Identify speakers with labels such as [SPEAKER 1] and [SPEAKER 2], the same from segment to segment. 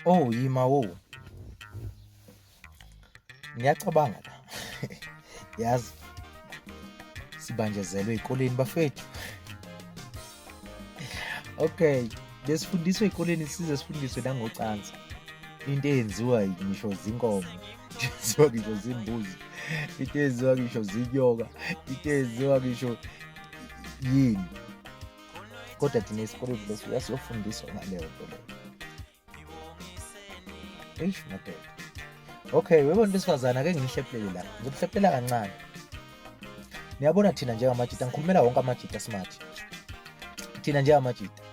[SPEAKER 1] Oh yima wo. Ngiyacabanga la. Yazi sibanjezelwe ezikoleni bafethu. Okay, besifundiswe ezikoleni size sifundiswe nangocansi. Into eyenziwa ngisho zinkomo, yenziwa ngisho zimbuzi, into eyenziwa ngisho zinyoka, into eyenziwa ngisho yini. kodwa thina esikoleni leso yasiyofundiswa ngaleyo nto leyo eish madoda okay webona into esifazane ake ngihlephulele la ngizokuhlephela kancane niyabona thina njengamajita ngikhulumela wonke amajita smart thina njengamajita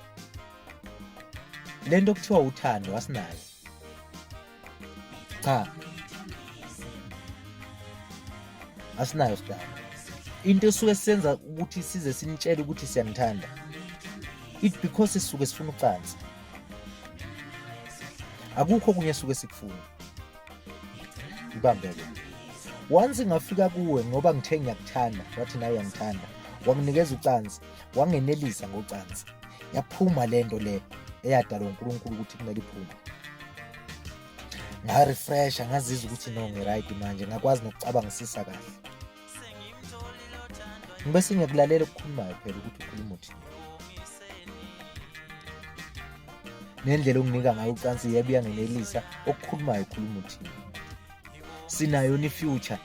[SPEAKER 1] le nto kuthiwa uthando asinayo cha asinayo sdala into esuke senza ukuthi size sinitshele ukuthi siyanithanda it because sisuke sifuna ucansi akukho kunye suke sikufuna ibambeke once ngafika kuwe ngoba ngithe ngiyakuthanda wathi nawe uyangithanda wanginikeza ucansi wangenelisa ngocansi yaphuma le nto le eyadalwa uNkulunkulu ukuthi kumele iphume ngarefresha ngazizwa ukuthi no ngi-right manje ngakwazi nokucabangisisa kahle ngibe singekulalela okukhulumayo phela ukuthi ukhuluma uthini nendlela onginika ngayo ucansi yebo uyangenelisa okukhulumayo ukhuluma uthini sinayo ni future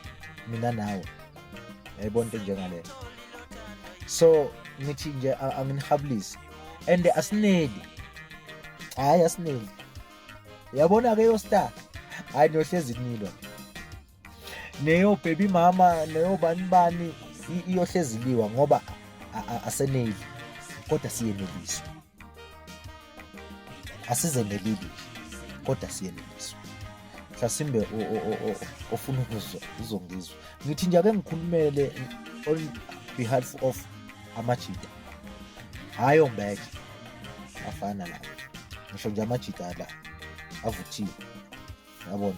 [SPEAKER 1] mina nawe yayibona into njengaleyo so ngithi nje anginihabulisi and asineli hayi asineli yabona ke yo star hayi niyohlezi nilwa neyo baby mama neyo bani bani iyohlezi liwa ngoba aseneli kodwa siyeneliswa asize ngebibi kodwa siyeneliswa mhlasimbe ofuna ukuzwa uzongizwa ngithi nje ake ngikhulumele on behalf of amajita hhayi ombeke afana lawo ngisho nje amajita la avuthiwe yabona